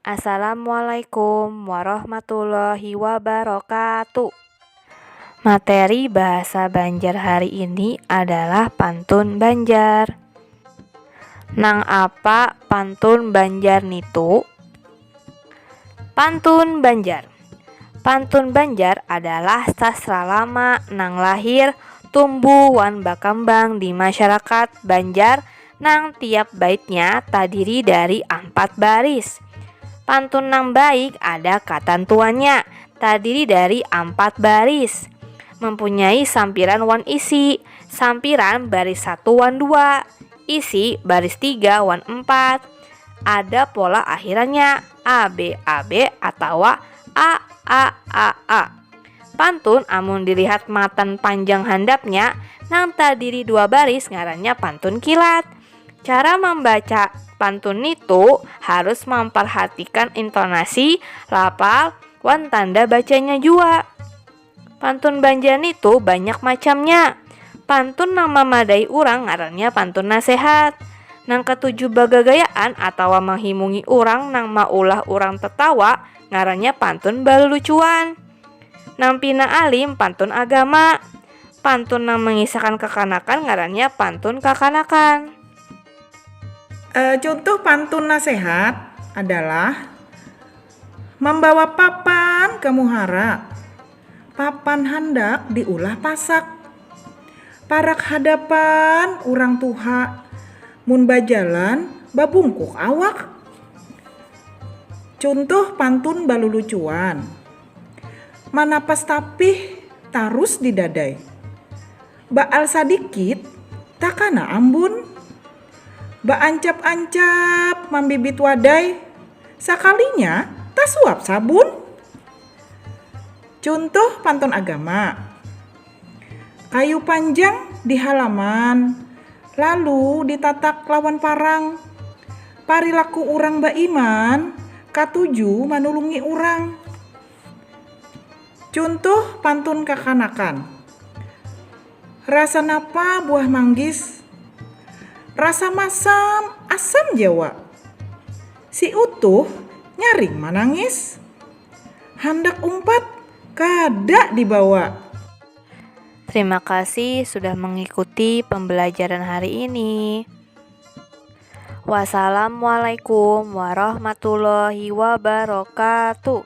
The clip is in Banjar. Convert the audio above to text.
Assalamualaikum warahmatullahi wabarakatuh. Materi bahasa Banjar hari ini adalah pantun Banjar. Nang apa pantun Banjar nitu? Pantun Banjar. Pantun Banjar adalah sastra lama nang lahir, tumbuh wan bakambang di masyarakat Banjar nang tiap baitnya tadiri dari ampat baris. Pantun nang baik ada katantuannya, tadiri dari ampat baris. Mempunyai sampiran wan isi. Sampiran baris satu wan dua, isi baris tiga wan empat. Ada pola akhirannya, a b a b atawa a a a a. Pantun amun dilihat matan panjang handapnya nang tadiri dua baris ngarannya pantun kilat. Cara mambaca pantun nitu harus mamparhatikan intonasi, lafal, wan tanda bacanya jua. Pantun Banjar nitu banyak macamnya. Pantun nang mamadai urang ngarannya pantun nasehat. Nang katuju bagagayaan atawa manghimungi urang nang maulah urang tatawa. ngarannya pantun balucuan nang pina alim pantun agama pantun nang mengisahkan kekanakan ngarannya pantun kakanakan uh, contoh pantun nasehat adalah membawa papan ke muhara Papan handak diulah pasak. Parak hadapan urang tuha. Mun bajalan babungkuk awak. Cuntuh pantun balulucuan. Manapas tapih tarus di dadai. Baal sadikit takana ambun. Baancap-ancap mambibit wadai. Sakalinya tasuap sabun. Cuntuh pantun agama. Kayu panjang di halaman lalu ditatak lawan parang. Parilaku urang baiman katuju manulungi urang. Cuntuh pantun kakanakan. Rasa napa buah manggis? Rasa masam asam jawa. Si Utuh nyaring manangis. Handak umpat, kada dibawa. Terima kasih sudah mengikuti pembelajaran hari ini. Wassalamualaikum warahmatullahi wabarakatuh.